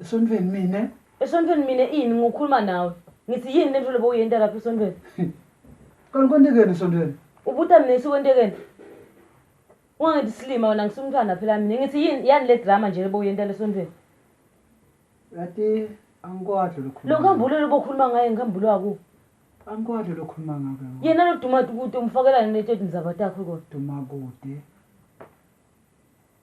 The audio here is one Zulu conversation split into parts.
Esontweni mina? Esontweni mina ini ngokhuluma nawe? Ngithi yini lento lobo uyenta lapha esontweni? Kanti kwentekeni esontweni? Ubuta mina isi kwentekeni? Ungangithi silima wena ngisumntwana phela mina. Ngithi yini yani le drama nje lobo uyenta lesontweni? Yati angikwadlo lokhuluma. Lo nkambulo lobo khuluma ngaye nkambulo waku. Angikwadlo lokhuluma ngabe. Yena lo dumati kude umfakelani leto tindzaba takho kodwa? Dumakude.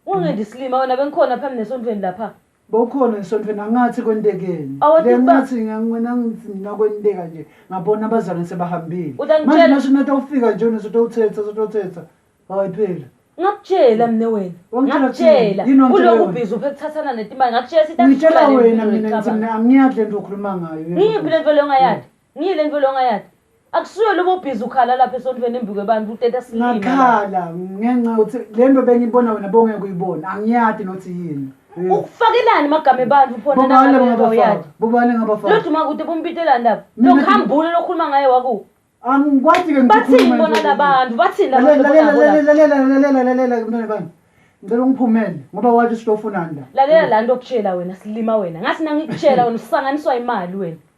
Ungendi isilima wena bengikhona phambi nesontweni lapha. Bowukhona esontweni angathi kwentekeni. Awuthi Le ba- ngathi ngangibona ngithi mina kwenteka nje ngabona abazane sebahambile. Utangitshela- Manje nasho nathi awufika nje wena sotowuthetha sotowuthetha. Hayi phela. Ngakutshela mina wena. Wangitshela Ngakutshela. thina. Yini wangitshela Uloku wena? ubhizi uphe kuthathana netimali. Ngakutshela sithi Ngitshela angishubane wena mina ngithi mina angiyadle into okhuluma ngayo. Ngiyiphi lento leyo ongayadi? Ngiye lento longa yathi. Akusuye lobo ubhizi ukhala lapha esontweni embikwe abantu uteta slima. Ngakhala ngenxa ukuthi lento bengibona wena bongeke uyibona. Angiyadi nothi yini. Hmm. Ukufakelani magama ebandla uphona nalo ngaba yakhe. Bobani ngaba fa. Loduma kude bompitelani lapha. Lokhambule lokhuluma ngaye waku. Angikwati ke ngikhuluma. Bathini bona labantu? Bathini labantu? Lalela lalela lalela lalela lalela kumntwana bani? ngicela ungiphumele ngoba wathi usitofunani la lalela la nto okutshela wena silima wena ngathi nangikutshela wena usanganiswa imali wena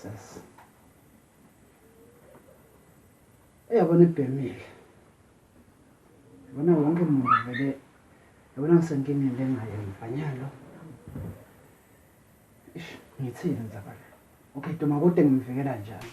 Sas. Eyabona ibhemile. Yabona wonke umuntu vele yabona ngisenkingeni lengayo mfanyalo. Ish ngithini nzabala. Okay Duma kodwa ngimvikela njani?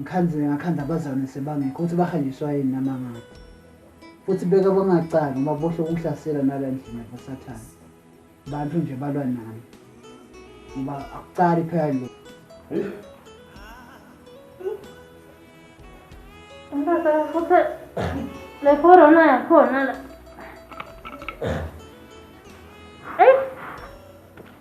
ngikhanzile ngakhanda abazane sebangekho ukuthi bahanjiswa yini nama ngaphi futhi beka bangacali uma bohle ukuhlasela nala ndlini yabasathane bantu nje balwa nami ngoba akucali phela lo le corona yakhona la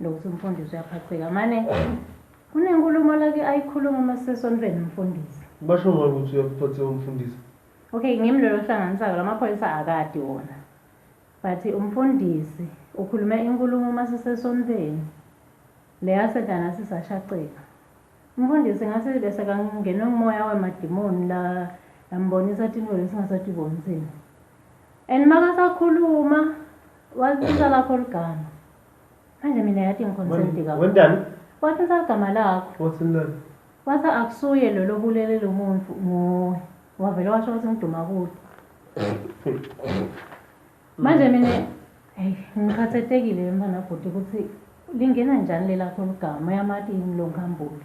Lokuthi umfundisi uyaphaceka mane kunenkulumo lake ayikhuluma uma sisesonfeni nomfundisi. Basho ngani ukuthi uyakuphatheka umfundisi? Okay, ngimi lelo hlanganisa-ke la maphoyisa akadi wona. But umfundisi ukhulume inkulumo uma sisesonfeni le yasedlana sisashaqeka. Umfundisi ngase bese kangenwe ngumoya wemadimoni la yambonisa tintfo lesingasatibonitsini. And makasakhuluma walithinta lakho ligama. Manje mina yathi ngiconcerned kakhulu. Wentani? Wathi ngisagama lakho. Wathi nani? Wathi akusuye lo lobulele lo muntu nguwe. Wavele washo ukuthi ngiduma kude. Manje mina hey ngikhathatekile mfana bhuti ukuthi lingena njani lelakho ligama yamati yini lo ngambuli.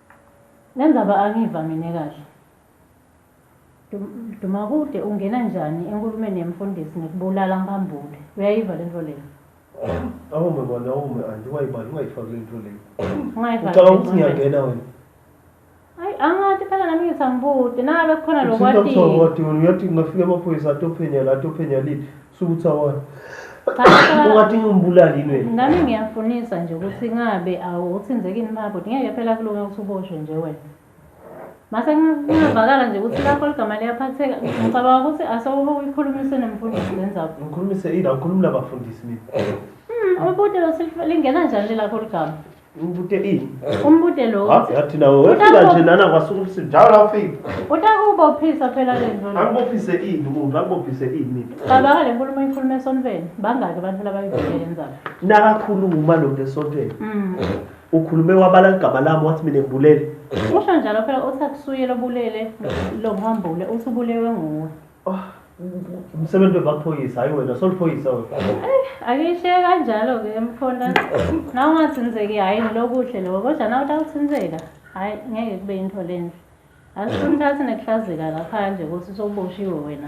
Lenzaba angiva mina kahle. Dumakude ungena njani enkulumeni yemfundisi ngikubulala mpambule uyayiva lento leyo. Awume mani awume anti ungayibali ungayifaki lento leyo. Ungayifaki Ucabanga ukuthi lento leyo. ngiyangena wena. Ayi angati phela nami ngithi angibuti nangabe kukhona Uthinta lokwatii. ubuthongo kodwa wena uyathi kungafika amaphoyisa atophenya la atophenya le Suthi awona. Cha, Ungathi ngimbulali yini wena? nami ngiyafunisa nje ukuthi ngabe awuthinzeki yini baba bhuti ngeke phela kulunge ukuthi uboshwe nje wena mase kunga- kungavakala nje ukuthi lakho ligama liyaphatheka ngicabanga ukuthi asewuke uyikhulumise nemfundisi lenzaba Ngikhulumise ila ngikhulumela abafundisi mina. ubuti lingena njani lelakho ligama Umbute ini? Umbute lo. Ha, yathi nawe wefika nje lana kwasuka ubusuku njalo la ufika. Utakubophisa phela le nto. le. Akubophise ini umuntu, akubophise ini. Cabanga le nkulumo ikhulume esontweni. Bangaki abantu labayivile yenza. Nakakhuluma lo nto esontweni. Mm. Ukhulume wabala igama lami wathi mina ngibulele. Usho njalo phela uthi akusuye lobulele lo mhambule uthi ubulewe nguwe. Oh, umsebenzi wemaphoyisa hayi wena soliphoyisa wena akishiye kanjalo-ke mkhona na ungathinzeki hhayi ngilokuhle loko kodwa na utawuthinzeka hhayi ngeke kube yinto lenhle asifuni uthathe nekuhlazeka ngaphandle ukuthi soboshiwe wena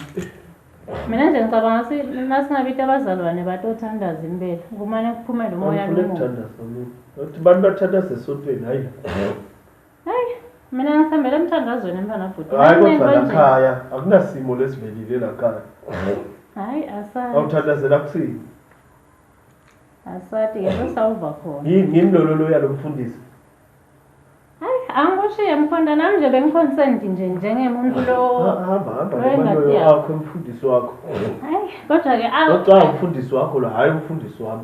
mina nje ngicabanga si nasingabita abazalwane batothandaza impela kumane kuphumele umoya lomubi Angifuni ukuthandaza mina. Uthi abantu bathandaza esontweni hayi Hayi mina ngisihambela emthandazweni mntwana bhuti. Hayi Nami kodwa konje. lakhaya akunasimo lesivelile lakhaya. Hayi asati. Awuthandazela kusini. Asati ke sesawuva khona. Yini yini lololo yalomfundisi. Hayi angikushiye mkhonda nami nje bengiconcerned nje njengemuntu lo. Ha- Hamba hamba Wengati nomaloyo yakho. wakho umfundisi wakho. Hayi kodwa ke awu. Oca umfundisi wakho lo hayi umfundisi wami.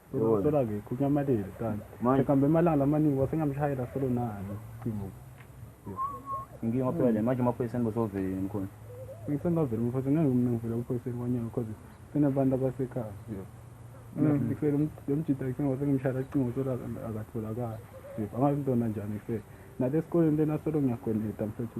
Sola ke kunya malele kanti. Manje kambe emalanga lamaningi wasengamshayela solo nani. Cingo. Inkinga waphela le manje amaphoyisa enibozovela yini khona. Ngisengavela umfowethu ngeke mina ngivela uphoyiseni kwanyana because sinabantu abasekhaya. Ngisele umjita kuseni wasengimshayela cingo sola akatholakala. Angazi ntona njani ngifele. Nalesikoleni lena solo ngiyagoneta mfethu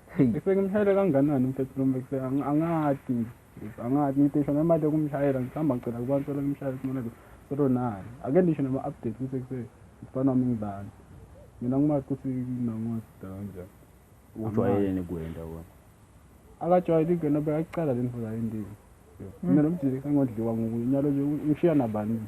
Sengimshayele kanganani mfethu lo mfethu angathi angathi ngitisho nemali yokumshayela ngihamba ngicela kubantu solo ngimshayele kumona lo solo naye ake ndisho nama update kuse kuse mfana wami ngibani mina ngimazi ukuthi nangosida kanjani ujwayeleni kwenda wona akajwayeli kwenda bekaqala le ndlela yendini mina nomjili kangodliwa ngukunyalo nje ngishiya nabani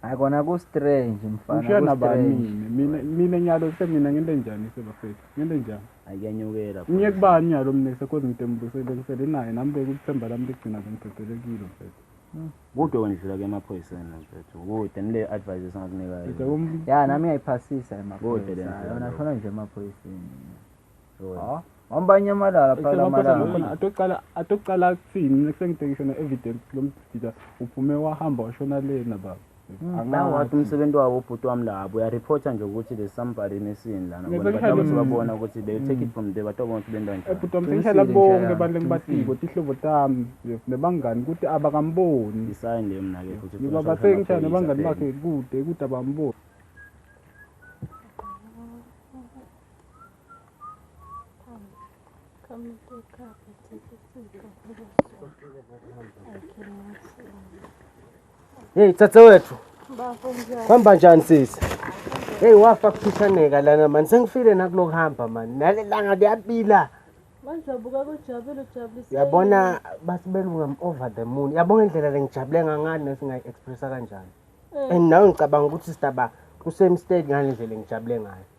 hayi kona ku-strange mfanangishiya nabani mina mina mina nyalo semina ngento enjani sebafethu ngento enjani ayikenyukela ngiye kubani nyalo mina sekhozi ngidembusele ngisele naye nami bekuluthemba lami ligcina bengidedekile mfethu hmm. kude wendlula ke emaphoyiseni mfethu kude nile advice esingakunikayo ya nami ngiyayiphasisa emaphoyisayona khona nje emaphoyiseni ha hamba nyamalala phela malanga atoqala atoqala kuthini next time ngibhekisho na evidence lomdida uphume wahamba washona lena baba angawathi hmm, umsebenzi wabo ubhuti wami labo uyareporta nje ukuthi there's somebody missing lana ngoba sebabona ukuthi they take it from there batobona ukuthi benda njani ubhuti wami sengihlala bonke abantu engibatiko tihlobo tami nebangani ukuthi abakamboni isayi nje mina ke futhi ngoba basengitshana nebangani bakhe kude kude abamboni Come to the car, but take it to the Hey, tsatsa wethu. Kwamba njani sisi? Hey wafa kuphishaneka lana mani sengifile nakulokuhamba mani nalelanga liyabila Bazabuka kujabule ujabulise. yabona basibelunga m- over the moon yabona indlela lengijabule ngangani nesingayi-expressa kanjani and nawe ngicabanga ukuthi sitaba kusemistake ngale ndlela engijabule ngayo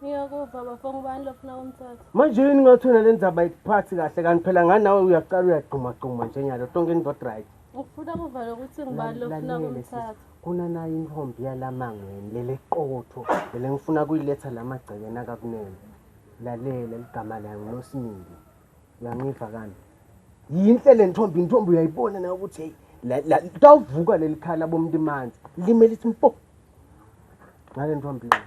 Ngiyakuva bafo ngubani lofuna kumthatha. Manje yini ngathi wena le ndzaba ayikuphathi kahle kanti phela ngani nawe uyaqala uyagxumagxuma njengalo tonke into not right. Ngifuna kuvala ukuthi ngubani lofuna kumthatha. Kuna nayo intombi yalamangweni lele qotho lele ngifuna kuyiletha lamagcekeni akakunene. Lalela ligama layo nguNosimili. Uyangiva kanti. Yinhle le ntombi intombi uyayibona nayo ukuthi hey la la tawuvuka lelikhala bomntu imanzi limele ithi mpo. Ngale ntombi. yona.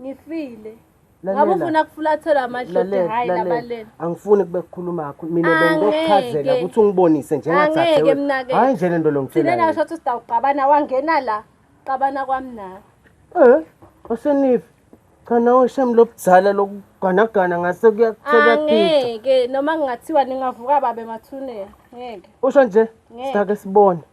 ngifile ngabe ufuna kufulathela amadloti hayi labaleni angifuni kube kukhuluma yakho mina bengizokuchazela ukuthi ungibonise njengathathe hayi nje lento lo ngithina thina nasho ukuthi sidawuqabana wangena la qabana kwami nawe eh osenifi cha nawe shem lobudzala lokuganagana ngase kuyakuthela ngeke noma ngingathiwa ningavuka babe mathunela ngeke usho nje sitake sibone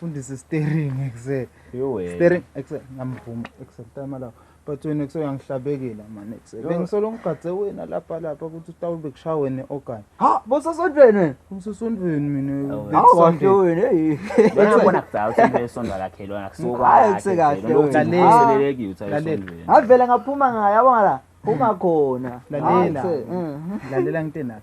fundisa steering ekuse steering ekuse ngamvuma ekuse time lapho but wena ekuse uyangihlabekela manje ekuse bengisolo ngigadze wena lapha lapha ukuthi utawube kushaya wena okanye ha bosasondweni wena usesondweni mina awasho wena hey ngiyabona kudala ukuthi into yesonto akakhelwa akusokwazi ekuse kahle ukuthi ngileleki uthi ayisondweni ngavela ngaphuma ngayo yabona la ungakhona lalela mm. lalela ngithe nayo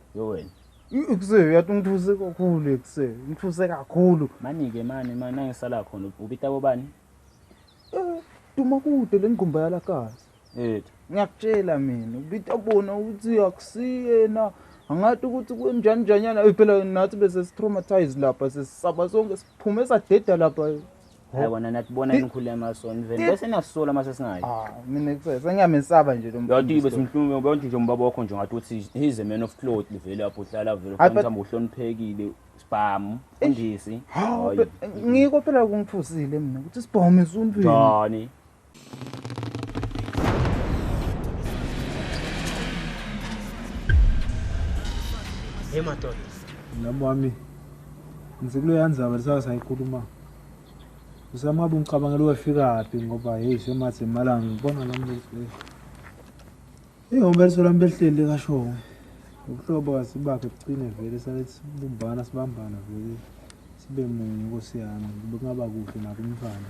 yo wena ikuse uyathi ungithuse kakhulu ikuse ngithuse kakhulu mani-ke mani mani nangisala khona ubita bobani um eh, duma kude le ngqumba yalakazi ethu ngiyakutshela mina ubita bona ukuthi akusiyena angathi ukuthi kunjani njanyana phela nathi bese si-traumatise lapha sesisaba sonke siphume sadeda lapha hayi wena nathi bona nikhulema so niveni bese niyasola mase singayo ah mina kuse sengiyamesaba nje lo mfana yathi ibe simhlungu ubantu nje umbaba wakho nje ngathi uthi he's a man of cloth livele lapho uhlala vele ufanele uhambe uhloniphekile sibhamu mfundisi ngiko phela kungithusile mina ukuthi sibhamu isumfini yani Hey madoda. Nami wami. Ngise kuleya ndzaba lisaka sayikhuluma. Usamaba ungicabangela wefika phi ngoba hey semathi imalanga ngibona nami lesi. Hey umbeliso lami behleli kasho. Ubuhlobo kasibakhe bucine vele sale sibumbana sibambana vele sibe munye nkosi yami. Kube kungaba kuhle nakumfana.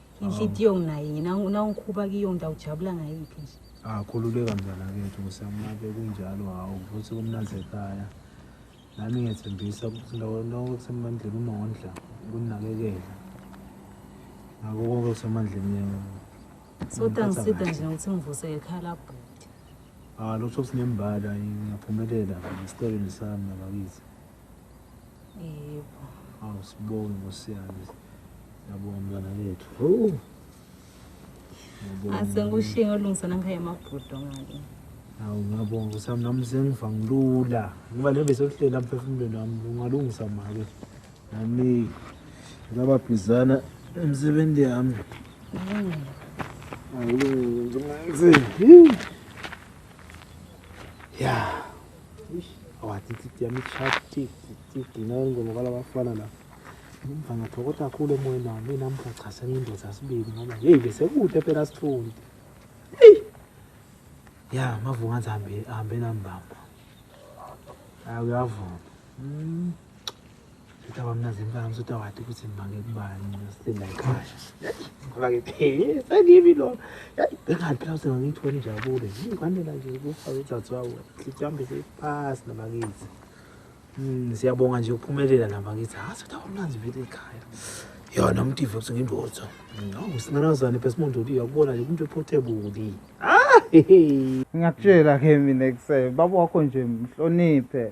inhliziyo nginaye yena nawungikhuba kiyo ngiyawujabula ngayiphi nje akhululeka mzala kethu kusemunabe kunjalo hawu futhi kumnanzi ekhaya nami ngiyethembisa ukuthi ndawo lonke kusemandleni umondla ukunakekela ngako konke kusemandleni yena so tangisida nje ukuthi ngivuse ekhaya labhuti ah lokho sinembala ngiyaphumelela esitebeni sami nabakithi Yebo. Awu sibonge ngosiyazi. Yabonga mntwana wethu. Hawu. Asengikushinga olungisana ngikhaya amabhudo ngake. Hawu ngiyabonga usami nami sengiva ngilula. Ngoba le bese kuhlela emphefumulweni wami ungalungisa mali. Nami ngaba bhizana emsebenzi yami. Hawu ngizima. Yeah. awatititi ya michati tititi nayo ngoma kwalabafana la umva ngathokoza kakhulu emoyeni wami mina mgachasa ngindoza sibili ngoba yeyi besekude phela sifundi eyi ya mavunga ahambe ahambe nambamba ayi uyavuma mm. Utaba mna zimpama usutawati ukuthi mbange kubani ngiyosinda ekhaya. Ngoba ngiphelisa kimi lo. Yayi bengathi phela usenga ngithole injabulo. Ngikwanela nje ukufa uzathi wawo. Sihambe sipasi nabakithi. Mm siyabonga nje ukuphumelela nabakithi. Ha sutaba mna zivile ekhaya. Yona umtivo ukuthi ngindotho. Ngawu singanazana phela simuntu uthi uyakubona nje umuntu ephotebuli. Ah! Ngiyakutshela ke mina kusebe baba wakho nje mhloniphe.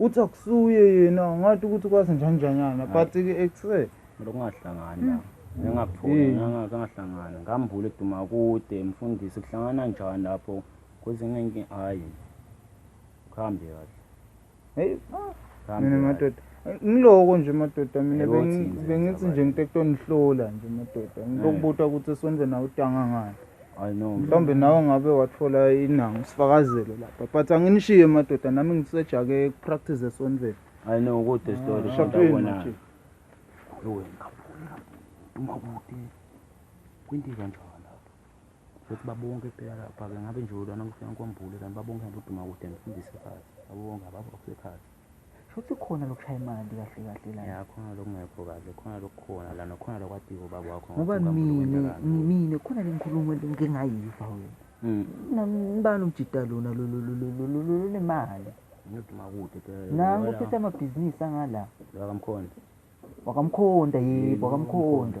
uthi akusuye yena ngathi ukuthi kwazi njanjanyana but ke ekuse lokungahlangani la engapholi hmm. ngangahlangani hmm. ngambula eduma kude mfundisi kuhlangana njani lapho kwezinye inkinga hayi kuhambe kahle heyi ah, mina madoda ngiloko nje madoda mina bengithi nje ngite kutonihlola nje madoda ngilokubutwa ukuthi sonze nawe utanga ngani I know. Mhlawumbe nawe ngabe wathola inanga usifakazelo lapha. But anginishiye madoda nami ngisejake practice esontweni. I know ukuthi ah, story kodwa wena. Ewe ngabona. Uma kude kwinto kanjalo futhi babonke phela lapha-ke ngabe nje ulana kufika nkwambule kanti babonke ngaboduma kude ngifundise phansi babonke ababa kusekhathi Shuthi khona lokushaya imali kahle kahle la. Ya khona lokungekho kahle, khona lokukhona la nokhona lokwatiwa ubaba wakho. Ngoba mina mina khona lengikhuluma ngingayiva wena. Mm. Ngibani umjita lona lo lo lo lo lo nemali. Ngiduma kude phela. Nangu uphethe amabhizinisi angala. Wakamkhonda. Wakamkhonda yebo, wakamkhonda.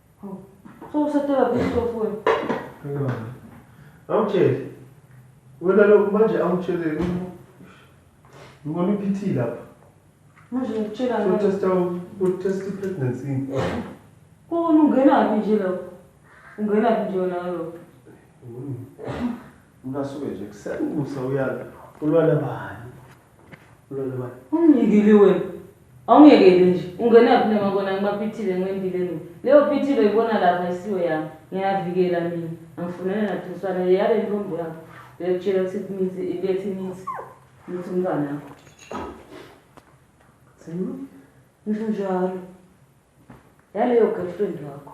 So usetela kusofu wena. Ngiyona. Awutshele. Wena lokhu manje awutshele ngibona iPT lapha. Manje ngitshela ngani? Utesta utesta pregnancy. Kona ungena phi nje lapho? Ungena phi nje wena lapho? Ungasuke nje kusakusa uyala. Ulwala bani? Lolwa. Ungiyekile wena. Awungiyekeli nje. Ungena phi noma kona ngibaphithile ngiwendile mina. Leyo phithile oyibona lapha ayisiyo yami. Ngiyavikela mina. Angifunele nathuswana le yale ntombi yakho. Uyakutshela ukuthi imithi ilethe imithi. Imithi umntwana yakho. Senu. Ngisho njalo. Yaleyo girlfriend yakho.